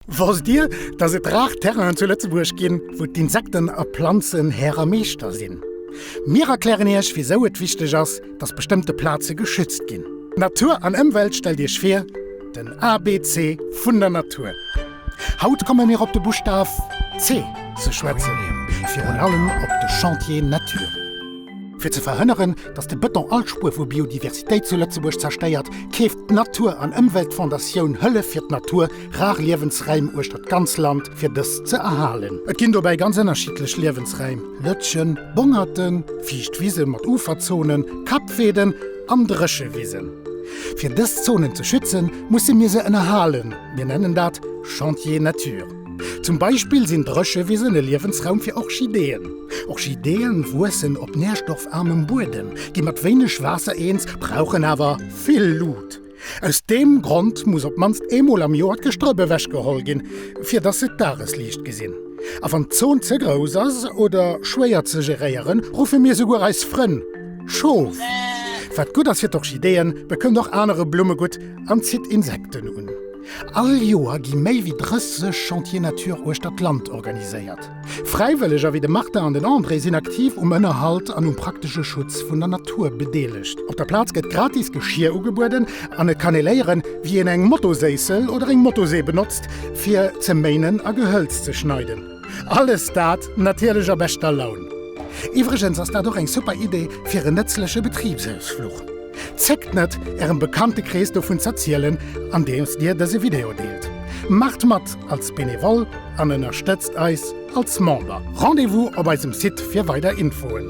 Wosst Dir, dass et rar Terrainen zu Lëtzebuerg ginn, wou d'Insekten a Planzen Här a Meeschter sinn? Mir erklären Iech, wisou et wichteg ass, dass bestëmmte Plaze geschützt ginn. Natur an Ëmwelt stellt Iech vir, den ABC vun der Natur. Haut komme mir op de Buschtaf C ze schwätzen, virun allem op de Chantier Natur. Fir ze verhënneren, dass de Bëton all Spuer vu Biodiversitéit zu Lëtzebuerg zerstéiert, keeft d'Natur an Ëmweltfondatioun Hëllef fir d'Natur, Rar Liewensräim uechter d'ganz Land fir dës ze erhalen. Et ginn dobäi ganz ënnerschiddlech Liewensräim, Lëtschen, Bongerten, fiicht Wisen mat Uferzonen, Kappweeden an Dréchewisen. Fir dës Zonen ze schützen, musse mir se ënnerhalen, mir nennen dat Chantier Nature. Zum Beispill sinn Dréchewisen e Liewensraum fir Orchideeën. Orchideeë wuessen op nährstoffarmem Buedem, gi mat wéineg Waasser eens, brauchen awer vill Lut. Aus deem Grond muss op d'mannst eemol am Joer d'Gestrëpp ewechgeholl ginn, fir dass se d'Dagesliicht gesinn. A wann d'Zon ze grouss ass oder schwéier ze geréieren, ruffe mir souguer eis Frënn Schof. Wat gutt ass fir d'Orchideeën, bekënnt och anere Blumme gutt an zitt Insekten un. All Joer gi méi wéi 30 Chantiers Nature uechter d'Land organiséiert. Fräiwëlleger wéi de Martin an den André sinn aktiv um Ënnerhalt an um praktesche Schutz vun der Natur bedeelegt. Op der Plaz gëtt gratis Geschier ugebueden an et kann ee léieren, wéi een eng Motoséissel oder eng Motosee benotzt, fir ze méinen a Gehëlz ze schneiden. Alles dat natierlech a beschter Laun. Iwwregens ass dat och eng super Idee fir en nëtzleche Betribsausfluch. Zéckt net, Ärem Bekanntekrees dovun z'erzielen, andeems Dir dëse Video deelt. Maacht mat als Benevole an ënnerstëtzt eis als Member. Rendez-vous op eisem Site fir weider Infoen.